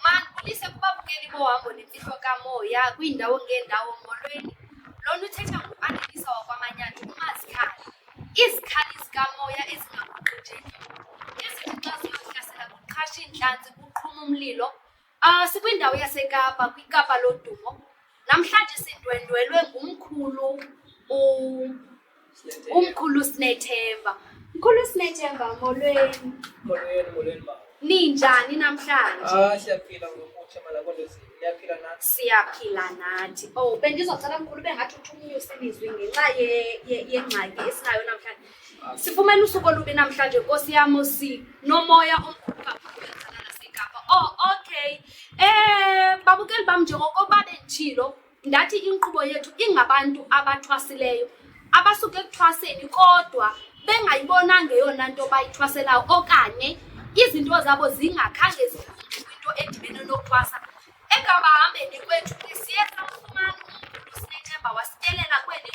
Mandibulise kuba bukeli bohambo nemfihlo kamoya kwiindawo ngeendawo molweni. Lona uthetha nguAnelisa wakwaManyana uMazikhali. Izikhali zikamoya ezingaguqujekiyo ezithi xa ziyokuyasela kuqhasha iintlanzi kuqhuma umlilo. Ah, sikwindawo yaseKapa, kwiKapa lodumo. Namhlanje sidwendwelwe ngumkhulu u- umkhulu Sinethemba. Mkhulu Sinethemba, molweni. Molweni, molweni, baba. Ninjani namhlanje? Ah, siyaphila ngokutsha malakonto zini. Niyaphila nathi. Siyaphila nathi. Oh, bendizocela mkhulu ube ngathi uthi umnyuse ilizwi ngenxa ye- ye- yengxaki esinayo namhlanje. Sifumene usuku olubi namhlanje, Nkosi yam, sinomoya omkhulu kakhulu wenzakala naseKapa. Oh, okay. Eh, babukeli bam njengokuba benditshilo, Ndathi inkqubo yethu ingabantu abathwasileyo abasuke ekuthwaseni kodwa bengayibonanga eyona nto bayithwaselayo okanye izinto zabo zingakhange zikwinto edibene nokuthwasa ekabahambeni kwethu siye samfumana umkhulu sinethemba wasitelela kweli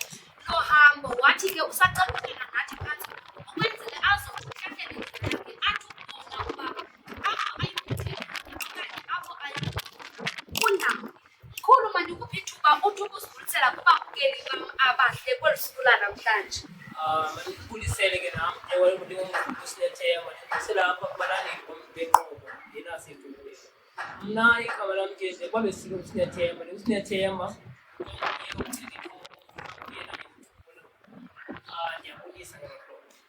lohambo wathi ke usacacukela nathi phantsi ukwenzele azokuhlahlela indlelake athi ukubona uba apho ayikuthela okanye apho aya kundawo Mkhulu, mandikuphe ithuba uthi ukuzibulisela kubabukeli bam abahle kweli suku lanamhlanje. Ah, mandibulisele ke nam ewe ndingumkhulusilethemba ndibusela apha kubalandeli bam benqubo ndinasedumbeni mna igama lam ke nje kwabe silo usinethemba ndingusinethemba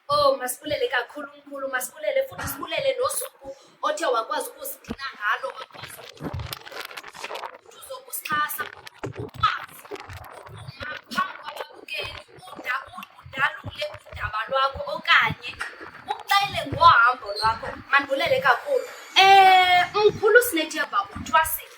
Oh, masibulele kakhulu mkhulu, masibulele futhi sibulele nosuku othe wakwazi ukusigcina ngalo wakwazi uzokusixhasa ukwazi ukuma phambi kwababukeli udalule udaba lwakho okanye uxele ngohambo lwakho mandibulele kakhulu um mkhulu sinethemba uthwasile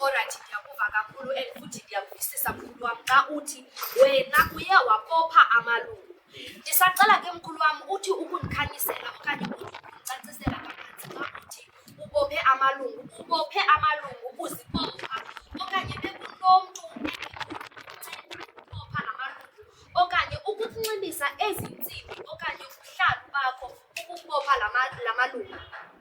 Orayithi, ndiyakuva kakhulu and futhi ndiyakuvisisa mkhulu wam xa uthi wena uye wakopha amalungu. Ndisacela ke mkhulu wam uthi ukundikhanyisela okanye uthi ukundicacisela kabanzi xa uthi ubophe amalungu. Ubophe amalungu uzibopha okanye bekunomntu endinceda ukubopha amalungu okanye ukunxibisa ezi ntsimbi okanye ubuhlalu bakho ukubopha la ma- la malungu.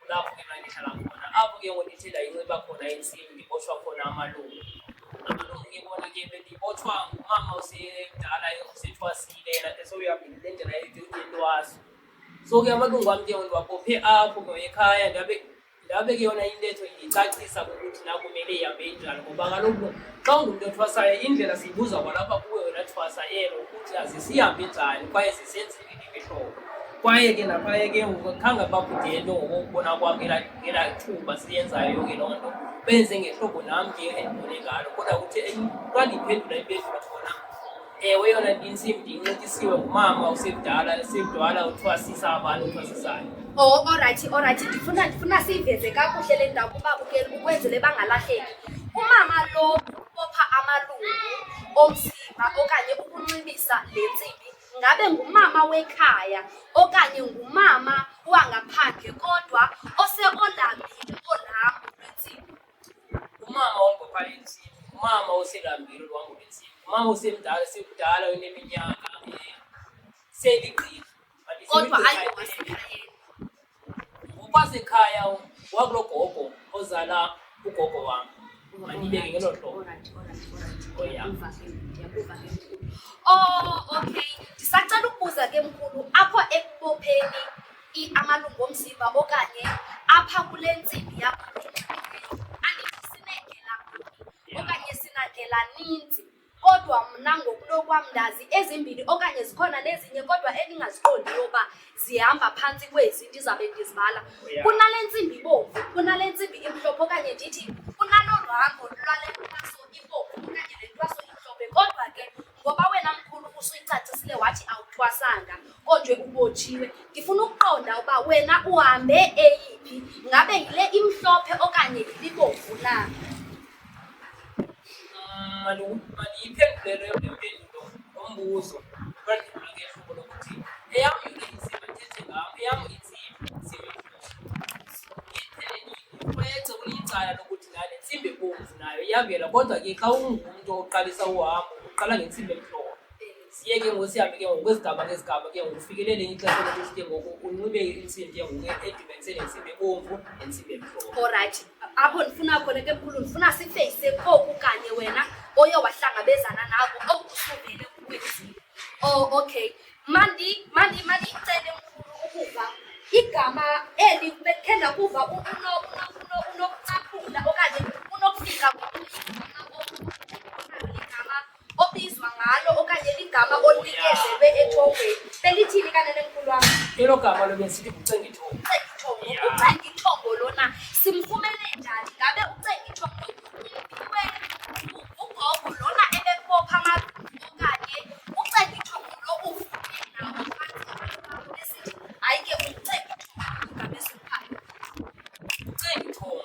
kulapho ke mandihlala khona apho ke ngoku ndithe ndayinxiba khona intsimbi ndibotshwa khona amalungu amalungu ke bona ke bendibotshwa ngumama osemdala osethwasile yena ke sowuhambile le ndlela yentwaso so ke amalungu am ke ndiwabophe apho ke ekhaya ndabe ndabe ke yona intetho indicacisa ukuthi nakumele ihambe injani ngoba kaloku xa ungumntu othwasayo indlela siyibuza kwalapha kuwe wena thwasa elo ukuthi azisihambe njani kwaye zisenzi kwaye ke naphaya ke ngoku khange bakudele ngokubona kwam ngelaa thuba siyenzayo yonke loo nto benze ngehlobo nam ke endibone ngalo kodwa kuthi xa ndiphendula impendulo khona ewe yona ndinsim ndincitisiwe ngumama usekudala sekudala uthwasisa abantu uthwasisayo o oh, orayithi orayithi ndifuna ndifuna siyiveze kakuhle le ndawo kuba bukeli ukwenzele bangalahleki umama lo upopha amalungu omzimba okanye ukunxibisa le ntsimbi ngabe ngumama wekhaya okanye ngumama wangaphandle kodwa oseolambile olambo lwentsimi umama ongophaya intsimi umama oselambile olwambo lwentsimi umama osemdala sekudala oneminyaka seligqila kodwa ayowasekhayeni Upasekhaya wakulogogo ozala ugogo wam mandibeke ngelo hlobo Oh, okay. Ndisacela ukubuza ke mkhulu apho ekubopheni amalungu omzimba okanye apha kule ntsimbi yakho kodwa mna ngokunokwam ndazi ezimbini okanye zikhona nezinye kodwa endingaziqondi yoba zihamba phantsi kwezi ndizabe ndizibala kunale ntsimbi ibomvu kunale ntsimbi imhlophe okanye ndithi kunalo luhambo lwale ntwaso ibomvu okanye le ntwaso imhlophe kodwa ke ngoba wena mkhulu usuyicacisile wathi awuthwasanga kodwa ubotshiwe ndifuna ukuqonda uba wena uhambe eyiphi ngabe yile imhlophe okanye yilibomvu na Maliyiphendulelwe impendulo ngombuzo kwendima ke hlobo lokuthi eyam inzima thethe ngam eyam inzima nzima iprojekte kulicala lokuthi lale ntsimbi ebomvu nayo iyavela kodwa ke xa ungumntu oqalisa uhambo uqala ngentsimbi emhlophe siyeke ngosihambe ke ngoku kwezigaba ngezigaba ke ngoku ufikelele ixesha lokuthi ke ngoku unxibe intsimbi ke ngoku edibanise nentsimbi ebomvu nentsimbi emhlophe olrayithi apho ndifuna khona ke mkhulu ndifuna sifeyise koku kanye wena oye wahlangabezana nako okusuvele kukwenzile o oh, okay mandi mandi mandiyicele mkhulu ukuva igama eli khe ndakuva unokucaphula okanye unokufika obizwa ngalo okanye ligama olunikezelwe ethongweni belithini kanene mkhulu wam elo gama lo besithi ucengithongo ucengithongo ucengithongo lona simfumene njani ngabe ucengithongo umpiwe ugogo lona ebebopha amabini okanye ucengithongo lo uvume nawo phantsi esithi hayi ke ucengithongo ngabesiphayo ucengithongo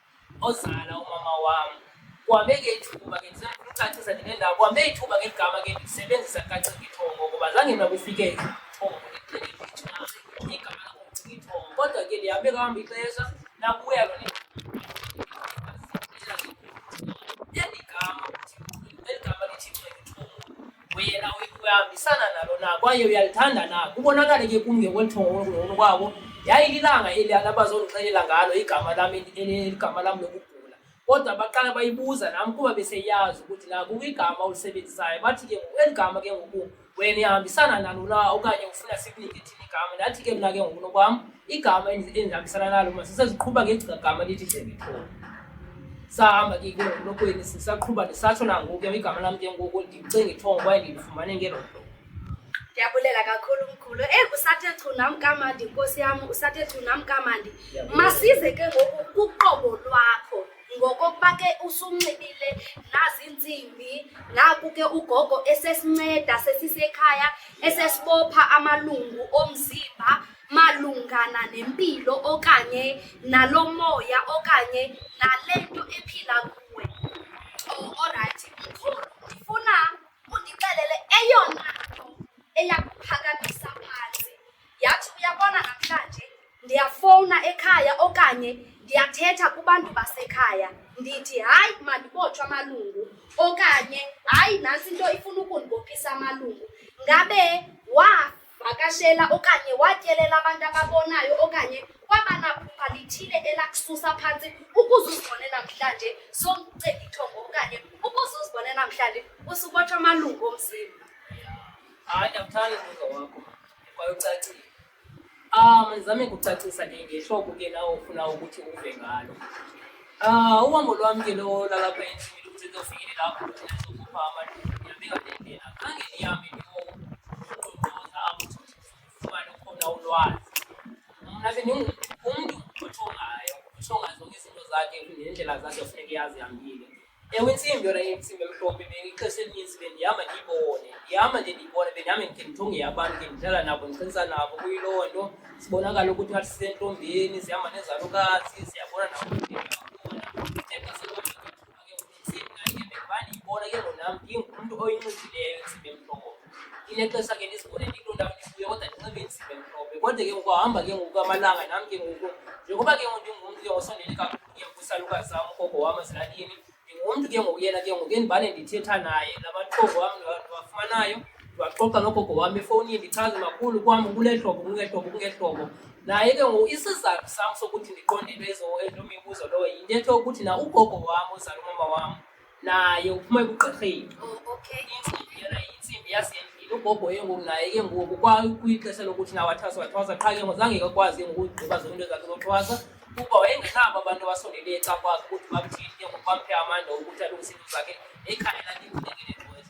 ozala umama wam kuhambe ngethuba ke ndisacacisa ndinendawo kuhambe ithuba ngegama ke ndisebenzisa kacingithongo ngoba zange mna kufike ithongo igama lakocingithongo kodwa ke ndihambe kuhamba ixesha nakuya lona eli gama eli gama lithi cingithongo buyela uyihambisana nalo na kwaye uyalithanda na kubonakale ke kum ngekweluthongolungono kwabo yayililanga eli abazondixelela ngalo igama lam eligama lam lokugula kodwa baqala bayibuza nam kuba beseyazi ukuthi na kukho igama olusebenzisayo bathi ke eli gama ke ngoku wena ihambisana nalo na okanye ufuna sikunike igama ndathi ke mna ke ngokunokwam igama endihambisana nalo ma siseziqhuba ngegama lithi debithole sahamba ke ke ngokunokweli sisaqhuba ndisatsho nangoku ke igama lam ke ngoku ndicinga ithongo kwaye ndilifumane ngelo nto ndiyabulela kakhulu mkhulu eyi kusathe chu nam kamandi nkosi yam usathe chu nam kamandi masize ke ngoku kuqobo lwakho ngokokuba ke usunxibile naziintsimbi naku ke ugogo esesinceda sesisekhaya esesibopha amalungu omzimba malungana nempilo okanye nalo moya okanye nale nto ephila kuwe oh, orayithi mkhulu ndifuna undixelele eyona nto eyakuphakamisa phantsi Yathi uyabona namhlanje ndiyafowuna ekhaya okanye ndiyathetha kubantu basekhaya ndithi hayi mandibotshwe amalungu okanye hayi nantsi into ifuna ukundibophisa amalungu ngabe wavakashela okanye watyelela abantu ababonayo okanye kwabanaphupha lithile elakususa phantsi ukuze uzibone namhlanje somcengithongo okanye ukuze uzibone namhlanje usubotshwa amalungu omzimba hayi ndiyamthanda umbuzo wakho kwaye ucacile. Um, ndizame kucacisa ke ngehlobo ke nawe ufuna ukuthi uve ngalo. Ah, uhambo lwam ke lo lalapha endlini luthi ndofikelela apho ndizokhupha amalungu ndiyabeka Khange ndihambe ndiyoqoqoza apho ndifumane ukhona ulwazi. Mna ke ndingumntu othongayo, othonga zonke izinto zakhe nendlela zakhe funeka iyazi Ewe intsimbi yona intsimbi emhlophe ixesha elininzi bendihamba ndiyibone ndihamba nje ndiyibone bendihambe ndikhe ndithunge abantu ke ndihlala nabo ndiqinisa nabo kuyiloo nto sibonakala ukuthi ngathi sisentombeni zihamba nezalukazi ziyabona ndiyibona ke ngonam ndingumntu oyinxibileyo intsimbi emhlophe inexesha ke ndizibone ndikuloo ndawo ndibuye kodwa ndinxibe intsimbi emhlophe kodwa ke ngokuhamba ke ngoku amalanga nam ke ngoku njengoba ke ngoku ndingumntu ke osondele kakhulu Kusaluka sam ugogo wam ezilalini ndingumntu ke ngoku yena ke ngoku endibane ndithetha naye nabathongo wam ndiwafumanayo ndiwaxoxa nogogo wam efowunini ndichaze makhulu kwam kule hlobo kule hlobo kule hlobo naye ke ngoku isizathu sam sokuthi ndiqondelwe ezo mibuzo lowo yintetho yokuthi na ugogo wam uzala umama wam naye uphuma ebugqirheni oh, intsimbi yona intsimbi yasendlini ugogo ke ngoku naye ke ngoku kwixesha lokuthi nawathwasa wathwasa qha ke ngoku zange kakwazi ke ngoku ugqiba zonke into zakhe zothwasa kuba wayengenabo abantu abasondeleyo xa kwazi ukuthi bakuthini ke ngoku bamphe amandla okuthi alungise into zakhe ekhaya lakhe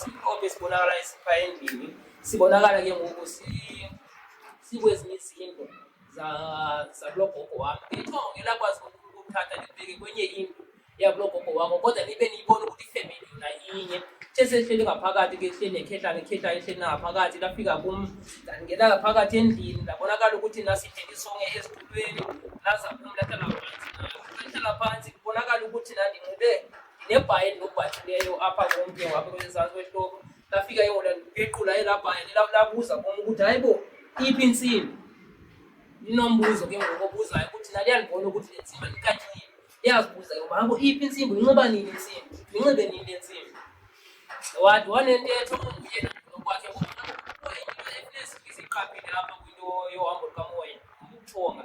siqoke sibonakala esiphaya endlini sibonakala ke ngoku sikwezinye izindlu zakulo gogo wam ithongo ngelakwazi ukuthatha libheke kwenye indlu yakulo gogo wakho kodwa nibe niyibona ukuthi ifemeli yona inye sesehleli ngaphakathi ke hleli nekhehlane ikhehlane hleli nangaphakathi lafika kum ndangena ngaphakathi endlini ndabonakala ukuthi nasidele isonge esitulweni laza kum lahlala phansi lahlala phansi kubonakala ukuthi nandinxibe nebhayi ndinobhathileyo apha komntu wapha kwezantsi kwehloko ndafika yona ndipequla elaa bhayi labuza kum ukuthi hayi bo iphi intsimbi ndinombuzo ke ngoku obuzayo ukuthi naliya ndibona ukuthi le ntsimbi andikathile iyazibuza ke uba habo iphi intsimbi unxiba nini intsimbi ndinxibe nini le ntsimbi wathi wanentetho yena nokwakhe iqaphile apha kwinto yohambo lukamoya umthonga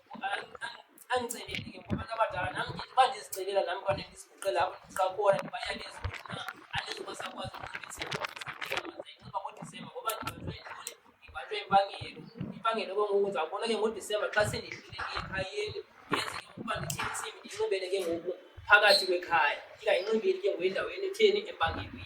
andiceleli ke ngobantu abadala nam ndiba ndizicelela nam kwanto endiziguqela apho xa khona ndibayalezi na andizubasakwazi uncibisaainxiba ngodisemba ngoba ndibalwe ntoni ndibalwe impangelo impangelo ke ngoku ndizawubona ke ngodisemba xa sendidlulile ekhayeni yenze ke ngokuba ndithini isimi ndinxibele ke ngoku phakathi kwekhaya ndingayinxibeli ke ngoku endaweni etheni empangelweni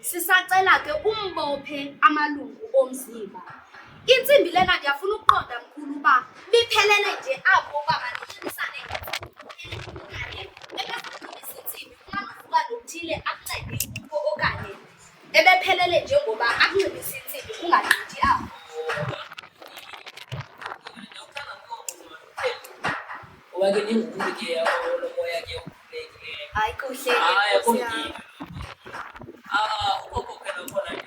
Sisacela ke umbophe amalungu omzimba. Intsimbi lena ndiyafuna ukuqonda mkhulu uba liphelele nje apho uba mandiqinisane okanye ebesaqinisa intsimbi kungangokuba nothile akuncede kuko okanye ebephelele nje ngoba akunxibisa intsimbi kungagqithi apho. Oba ke ningumuntu ke olomoya ke 아이고 씨. 아, 야, 꼭 이. Ah, huko kwa kana kwa na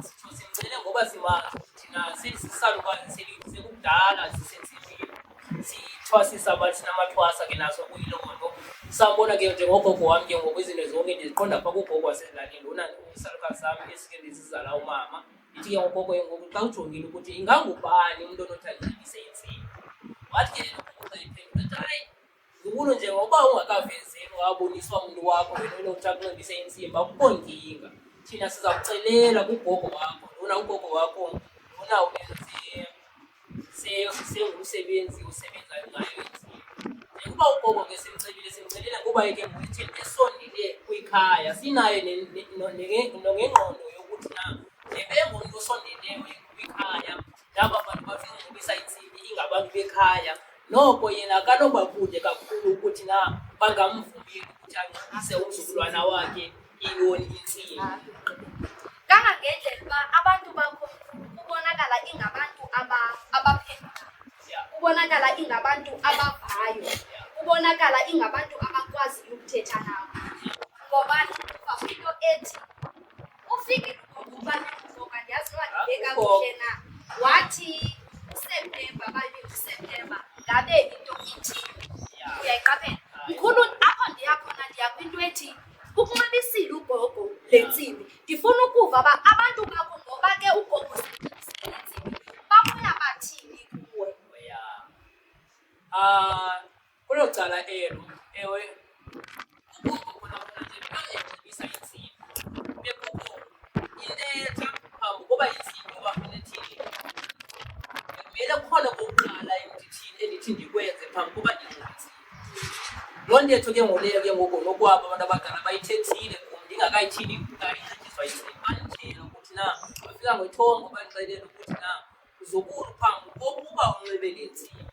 tusimzele ngoba siwa thina sisisalu kwa silize kudala sisensibile sithwasisa abathi namathwasa ke naso kuyiloko no sabona ke njengogogo wami ke ngoba izinto zonke ndiziqonda pha kugogo waselalini lona usalukazi sami esike ndizizala umama ndithi ke ngogogo ke ngoku xa ujongile ukuthi ingangubani umntu onothi ayibise intsini wathi ke lelo gogo xa iphendula athi hayi zibulu nje ngoba ungakavezeli waboniswa umntu wakho wena unotha kunxibisa intsimba akukho nkinga thina siza kucelela kugogo wakho lona ugogo wakho lona ubenze sengumsebenzi osebenzayo ngayo intsimba njengoba ugogo ke simcelile simcelela ngoba yeke ngokuthi esondele kwikhaya sinaye nongengqondo yokuthi na ebengumntu osondeleyo kwikhaya naba bantu bazokubisa intsimbi ingabantu bekhaya noko yena akanoba kude kakhulu ukuthi na bangamvumeli ukuthi anxibise umzukulwana wakhe iyoni intsimbi kangangendlela uba abantu bakho kubonakala ingabantu abaphendula kubonakala ingabantu abavayo kubonakala ingabantu abakwaziyo ukuthetha nabo ngoba into ethi Ufike ubani ngoba ndiyazi uba ndibeka kuhle na. Wathi uSeptemba babe uSeptemba ngabe into ithi uyayiqaphela. Mkhulu apho ndiya khona ndiya kwinto ethi ukunxibisile ugogo le ntsimbi. Ndifuna ukuva uba abantu bakho ngoba ke ugogo usebenzisile le ntsimbi babuya bathini kuwe. Ah, Kwelo cala elo, ewe, akukho khona khona nje xa egqibisa intsimi. Bekukho iletha phambi koba intsimi uba unethile. Bekumele kukhona kokuqala endithini endithi ndikwenze phambi koba ndingxintsile. Loo ntetho ke ngoku leyo ke ngoku nokwabo abantu abadala bayithethile kum ndingakayithini ndingayithethiswa intsimi. Bandixelela ukuthi na bafika ngethongo bandixelela ukuthi na uzokuru phambi kokuba unxibe le ntsimbi.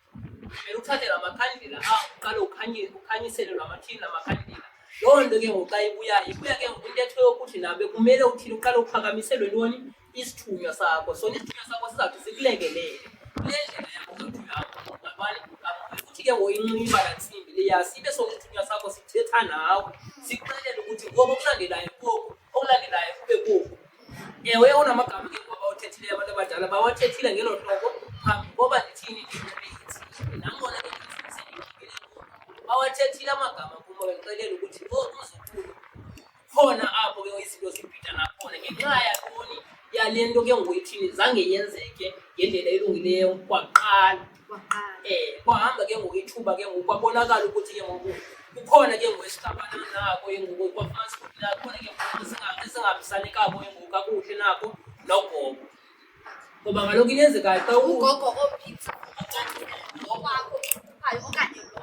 Kumele uthathe la makhandlela awo uqale ukhanye- ukhanyisele la mathini la makhandlela loo nto ke ngoku xa ibuyayo ibuya ke ngoku intetho yokuthi nabe kumele uthini uqale uphakamiselwe ntoni isithunywa sakho sona isithunywa sakho sizawuthi sikulekelele kule ndlela yakho zothi yakho ngabani ngabani futhi ke ngoku inxiba la ntsimbi leya sibe sona isithunywa sakho sithetha nawe sikuxelela ukuthi ngoku okulandelayo koku okulandelayo kube koku Ewe, unamagama ke ngoku abawuthethileyo abantu abadala bawathethile ngelo hlobo phambi koba ndithini nangona ke bawathethile amagama kum bexelela ukuthi ngoku uzokhulu khona apho ke izinto zibhida nakhona ngenxa yakoni yale nto ke ngoku ithini zange yenzeke ngendlela elungileyo kwaqala um kwahamba ke ngoku ithuba ke ngoku kwabonakala ukuthi ke ngoku kukhona ke ngoku esihlabana nako ke ngoku kwafumanisa ukuthi nakhona ke ngoku esingahambisani kabo ke ngoku kakuhle nako nogogo ngoba kaloku into enzekayo xa ugogo ophithi ngokwakho uqhayo okanye lo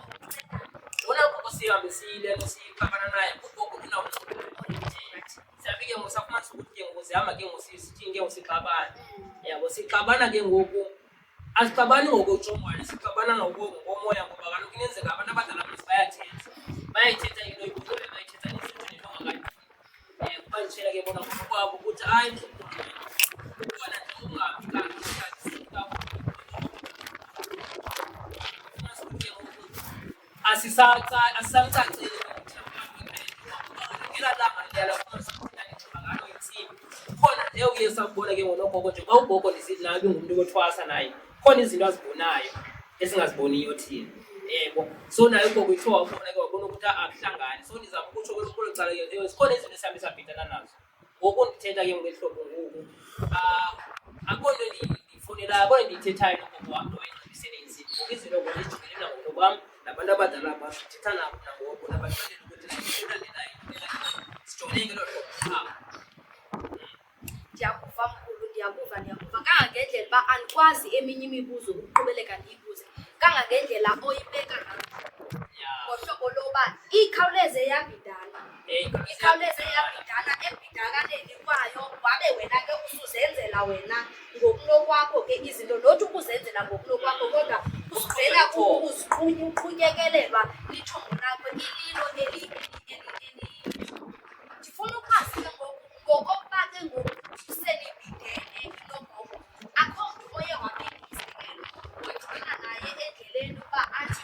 lona gogo sihambe siyile nto siyixabana naye ugogo unawusiyafike ngoku safumanisa ukuthi ke ngoku zihamba ke ngoku sithinge ngoku sixabana yabo sixabana ke ngoku asixabani ngokutsho umoya sixabana ngomoya ngoba kaloku inenzeka abantu abadala besi bayathetha bayayithetha into ibuzole bayithetha nesinto nento ngakayi um eh, kubandishela ke bona ngokwabo ukuthi hayi ubona nje ungabi kanti asisacaceli khona nje uye sakubona ke ngonogogo nje kwawugogo ndisilabi ngumntu kothwasa naye khona izinto azibonayo esingaziboniyo thina yebo so naye ugogo ithiwa ubona ke wabona ukuthi akuhlangani so ndizama ukutsho kwelo cala sikhona izinto esihambe sabhidana nazo ngoku ndithetha ke ngehlobo ngoku ah, akho nto ndiyifunelayo akho nto ndiyithethayo nogogo wam nto endisebenzi ngoku izinto ngoku ndijibele nangono kwam nabantu abadala bam ndithetha nabo nangoku nabaxelela ukuthi ndilandelayo sijoleke loo hlobo qha ndiyakuva mkhulu ndiyakuva ndiyakuva kangangendlela uba andikwazi eminye imibuzo ukuqhubeleka ndiyibuze kangangendlela oyibeka ngayo ya ngohlobo loba ikhawuleze yabidala ikhawuleze yabhidana ebhidakaneni kwayo wabe wena ke usuzenzela wena ngokunokwakho ke izinto nothi ukuzenzela ngokunokwakho kodwa usivela kukuziqhunya uqhunyekelelwa lithongo lakho ililo ndifuna ukwazi ke ngoku ngokokuba ke ngoku uselibhidene nogogo akho mntu oye wabhekiselo wagcina naye endleleni uba athi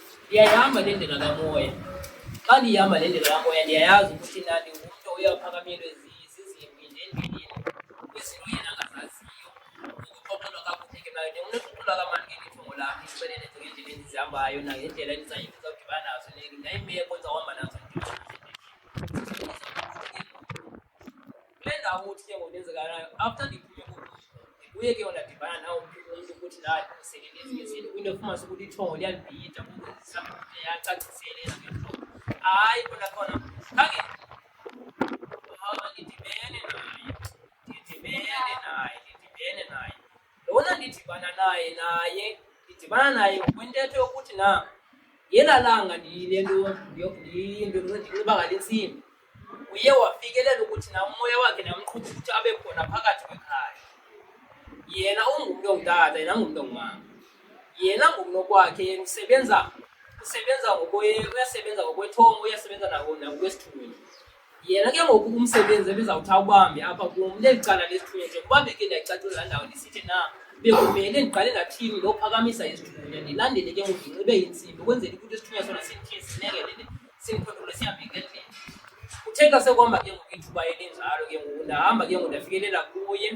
Ndiyayihamba le ndlela kamoya. Xa ndihamba le ndlela kamoya ndiyayazi ukuthi nani umntu oye aphakamelwe zizimbi ndendenini kwizinto yena angazaziyo. Ukuxoxelwa kakuhle ke nayo ndingunokuqula kamani ke lithongo lam ndixelele zonke iindlela endizihambayo nangendlela endizawudibana nazo neemeko endizawuhamba nazo. kule ndawo uthi ke ngokwenzeka nayo after ndiphume ndibuye ke ondadibana nawo umntu ukuthi naye sekenezikezini kwinto efumanisa ukuthi ithongo liyalibhida kukwenzisa yacaciselela ke mhlobo hayi kona khona khange ndidibene naye ndidibene naye ndidibene naye lona ndidibana naye naye ndidibana naye kwintetho yokuthi na yela langa ndiyile nto ndiye nto ndinxiba ngale ntsimbi uye wafikelela ukuthi na umoya wakhe namqhuba ukuthi abe khona phakathi kwekhaya yena ungumntu ongutata yena ungumntu ongumama yena ngokunokwakhe yena usebenza usebenza uyasebenza ngokwethongo uyasebenza nakwesithunzi Yena ke ngoku umsebenzi ebizawuthi awubambe apha kum leli cala lesithunywa njengoba beke ndiyacacula laa ndawo ndisithi na bekumele ndiqale ndathini lokuphakamisa isithunywa ndilandele ke ngoku ndinxibe intsimbi ukwenzela ukuthi isithunywa sona sithiye sinekelele simphotole sihambe ngendlela kuthe xa sekwamba ke ngoku ithuba elinjalo ke ngoku ndahamba ke ngoku ndafikelela kuye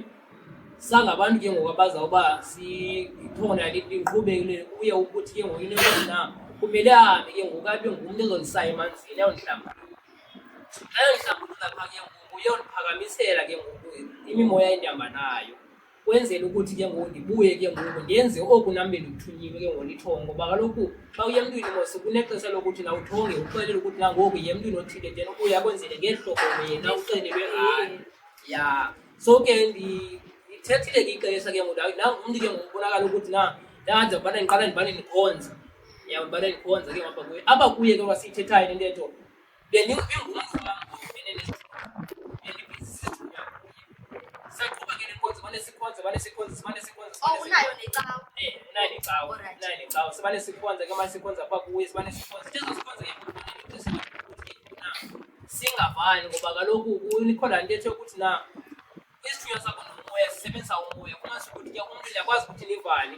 sangabantu ke ngoku abazawuba sikhona liqhubekele kuye ukuthi ke ngoku into na kumele ahambe ke ngoku abe ngumntu ezondisaya emanzini ayondihlamba ke ngoku uyondiphakamisela ke ngoku imimoya endihamba nayo kwenzela ukuthi ke ngoku ndibuye ke ngoku ndenze oku nam bendikuthunyiwe ke ngoku ndithonge ngoba kaloku xa uye emntwini mos kunexesha lokuthi na uthonge uxelele ukuthi nangoku ye emntwini othile then ubuye akwenzele ngehlobo yena uxelelwe ngayo ya so ke ndithethile ke ixesha ke ngoku ndangumntu ke ngoku ubonakala ukuthi na ndanza ubana ndiqala ndibane ndikhonza yambale ikhonza ke ngapha kuye apha kuye ke wasiyithethayo le ntetho saqhuba ke lenkonzo mane sikhonze mane sikhonze mane sikhonze oh, unayo necawa eh unayo necawa unayo necawa sibane sikhonze ke mane sikhonze apha kuye sibane sikhonze sizo sikhonze ke singavani ngoba kaloku nikhona nto ethe ukuthi na isithunywa sakho nomoya sisebenzisa umoya kumasho ukuthi ke umntu ndiyakwazi ukuthi nivane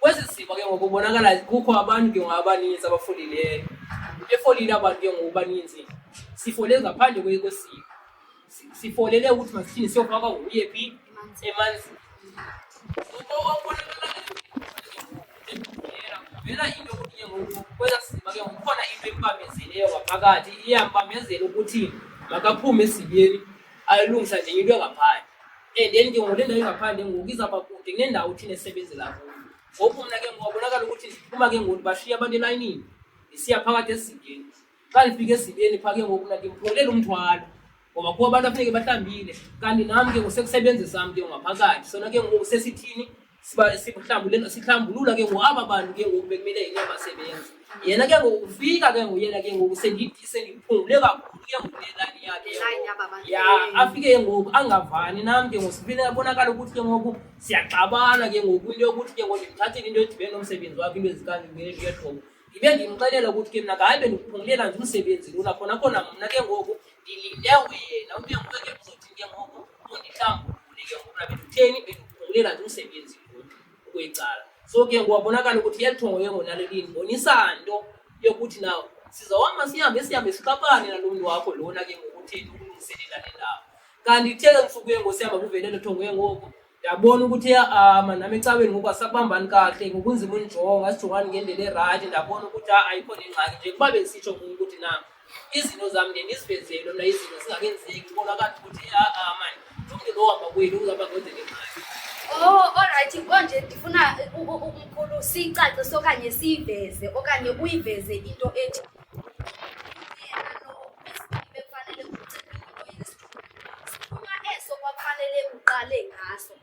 kwezi zimo ke ngoku kubonakala kukho abantu ke ngoku abaninzi abafolileyo befolile abantu ke ngoku baninzi sifolele ngaphandle kwesiko sifolele ukuthi masithini siyofaka nguye phi emanzini Vela into ukuthi ke ngoku kwela sima ke ngoku khona into empamezeleyo ngaphakathi iyampamezela ukuthi makaphume esibeni ayilungisa nje into engaphandle and then ke ngoku le ndawo ingaphandle ngoku izawuba kude kunendawo thina esebenzela kuyo ngoku mna ke ngoku abonakala ukuthi ndiphuma ke ngoku ndibashiye abantu elayinini ndisiya phakathi esibeni xa ndifika esibeni phaa ke ngoku mna ndimphulela umthwalo ngoba kuba abantu afuneke bahlambile kanti nam ke ngoku sekusebenzisa mntu ngaphakathi sona ke ngoku sesithini siba sihlambulula sihlambulula ke ngoku aba bantu ke ngoku bekumele yena basebenza yena ke ngoku ufika ke ngoku yena ke ngoku sendithi sendiphungule kakhulu ke ngoku lelani yakhe ke Line ngoku. yaba bantu. ya afike ke ngoku angavani nam ke ngoku sifile abonakala ukuthi ke ngoku siyaxabana ke ngoku into yokuthi ke ngoku ndimthathile into edibene nomsebenzi wakhe into ezikangengeshoko ndibe ndimxelela ukuthi ke mna ngaye bendiphungulela nje umsebenzi lula khona khona mna ke ngoku ndilinde wena ube nguwe ke ngoku ikambu ulike ngokuba bekutheni bekuphungulela nje umsebenzi kuyicala so ke ngokwabonakala ukuthi yalithongo yengo nalelini bonisa nto yokuthi na sizawuhamba sihambe sihambe sixabane nalo mntu wakho lona ke ngokutheni ukulungiselela le ndawo kanti ithe ke ntsuku yengo sihamba kuvelelo thongo yengoko ndabona ukuthi ama nam ecaweni ngoku asabambani kahle ngokunzima unjonga asijongani ngendlela erayithi ndabona ukuthi ayikho nengxaki nje kuba bendisitsho kum ukuthi na izinto zam ndiye ndizivezele mna izinto zingakenzeki ndibona kanti ukuthi aa mani umntu lohamba kwenu uzaba kwenzeke mali Oh, alright konje ndifuna umkhulu siyicacise okanye siyiveze okanye uyiveze into ethi uqale ngaso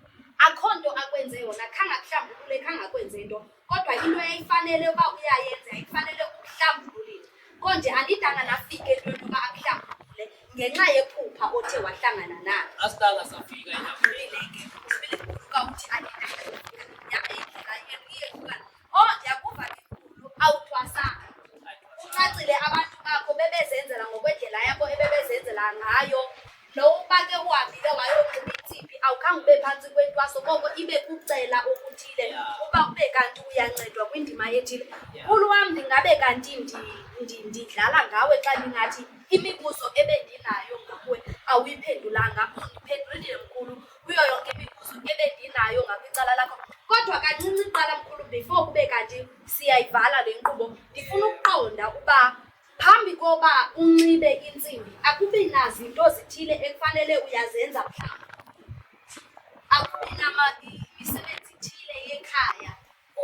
akho nto akwenze yona khange akuhlambulule khange akwenze into kodwa into eyayifanele uba uyayenza yayifanele ukuhlambululile konje andidanga nafike into yokuba akuhlambulule ngenxa yephupha othe wahlangana nalo asitanga safika endaweni ke usibile kuka uthi andidanga yabe indlela yeriye kuka oh ndiyakuva ke khulu awuthwasanga ucacile abantu bakho bebezenzela ngokwendlela yabo ebebezenzela ngayo Lo uba ke uhambile wayoqhuba itsiphi awukhange ube phantsi kwentwaso koko ibe kucela okuthile uba ube kanti uyancedwa kwindima ethile. Mkhulu wam ndingabe kanti ndidlala ngawe xa ndingathi imibuzo ebendinayo ngakuwe awuyiphendulanga undiphendulile mkhulu kuyo yonke imibuzo ebendinayo ngakwicala lakho kodwa kancinci qala mkhulu before kube kanti siyayivala le nkqubo ndifuna ukuqonda uba Phambi koba unxibe intsimbi akubi nazinto zithile ekufanele uyazenza mhlawumbi. Akubi namisebenzi ithile yekhaya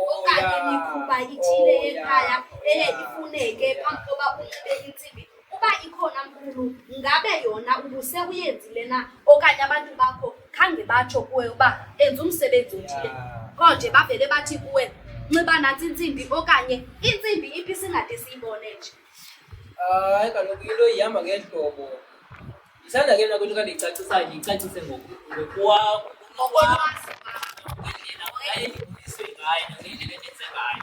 okanye oh, imikhuba ithile oh, yekhaya eye ifuneke phambi koba unxibe intsimbi. Uba ikhona mkhulu, ngabe yona ubuse uyenzile na okanye abantu bakho khange batsho kuwe uba enza umsebenzi othile qho nje bavele bathi kuwe nxiba nantsi intsimbi okanye intsimbi iphi singade siyibone nje hayi kaloku into ihamba ngehlobo ndisanda ke mna kwento kandiyicacisayo ndiyicacise ngokwam ngendlela ayendibuyiswe ngayo nangendlela endenze ngayo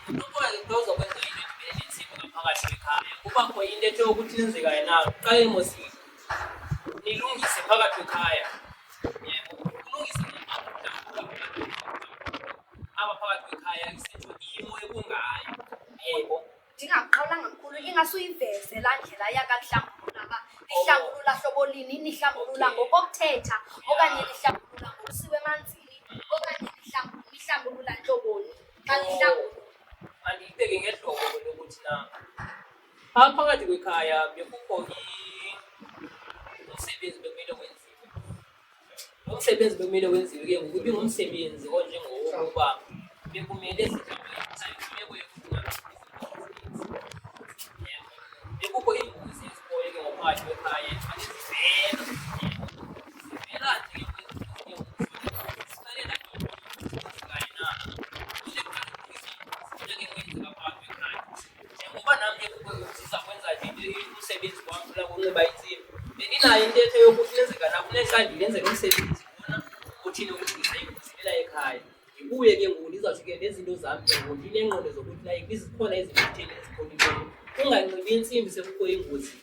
unokuba into zokwenza into ndibele nentsimbi ngaphakathi ekhaya kubakho into ethe ukuthi lenzekayo na qale mosile nilungise phakathi ekhaya ulungise apha phakathi kwekhaya isitsho imo ekungayo yebo ndingaqalanga mkhulu ingase uyiveze laa ndlela yakakuhlambulula uba lihlambulula hlobo lini nihlambulula ngokokuthetha okanye lihlambulula ngokusiwa emanzini okanye nihlambulula ntloboni xa nihlambulula andiyibeke ngehlobo lokuthi na Ah, phakathi kwekhaya bekukho umsebenzi bekumele wenziwe. Lo msebenzi bekumele wenziwe ke ngoku ibingumsebenzi onjengowokuba bekumele imeko yokuba bekukho iingozi ezikhoyo ke ngophakathi kwekhaya njengoba nam ndikukwenza kwenza nje umsebenzi wam funa kunxiba intsimbi bendinayo intetho yokuthi nenzeka nakunexa ndinenzeka umsebenzi khona uthini ukuthi ndisayikuzilela ekhaya ndibuye ke ngoku ndizawuthi ke nezinto zam ke ngoku ndineenqondo zokuthi like izikhona izinto ezithile ezikhonileyo unganxibi intsimbi sekukho engozini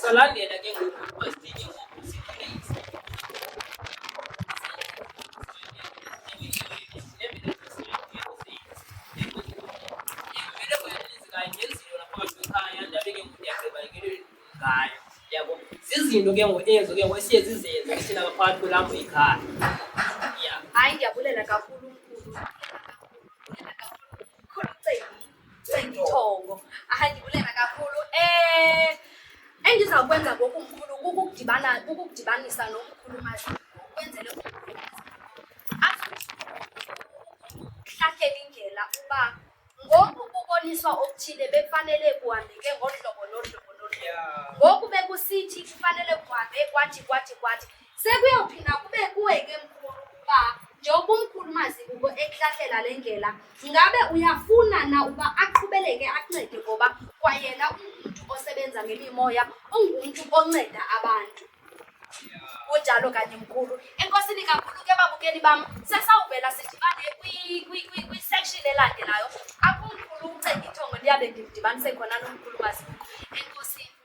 Salandela ke ngoku kuba sidinge izinto ke ngoku ezo ke ngoku esiye zizenze thina ngaphakathi kwelapho ikhaya ya hayi ndiyabulela kakhulu Thongo. Hayi ndibuleka kakhulu. Eh endizawukwenza ngoku mkhulu kukudibana kukudibanisa nomkhulu maziko ukwenzele ahlahlele indlela uba ngoku kuboniswa okuthile bekufanele kuhambeke ngolu hlobo nolu hlobo nolu hlobo ngoku bekusithi kufanele kuhambe kwathi kwathi kwathi Sekuyophinda kube kuwe ke mkhulu ukuba njengoba umkhulu mazikuko ekuhlahlela le ndlela ngabe uyafuna na uba aqhubeleke akuncede ngoba kwayena ungumntu osebenza ngemimoya ungumntu onceda abantu kunjalo kanye mkhulu enkosini kakhulu ke babukeli bam sesawuvela sidibane kwisection elandelayo apho umkhulu ucengithongo ndiyabe ndimdibanise khona nomkhulu mazikuko enkosini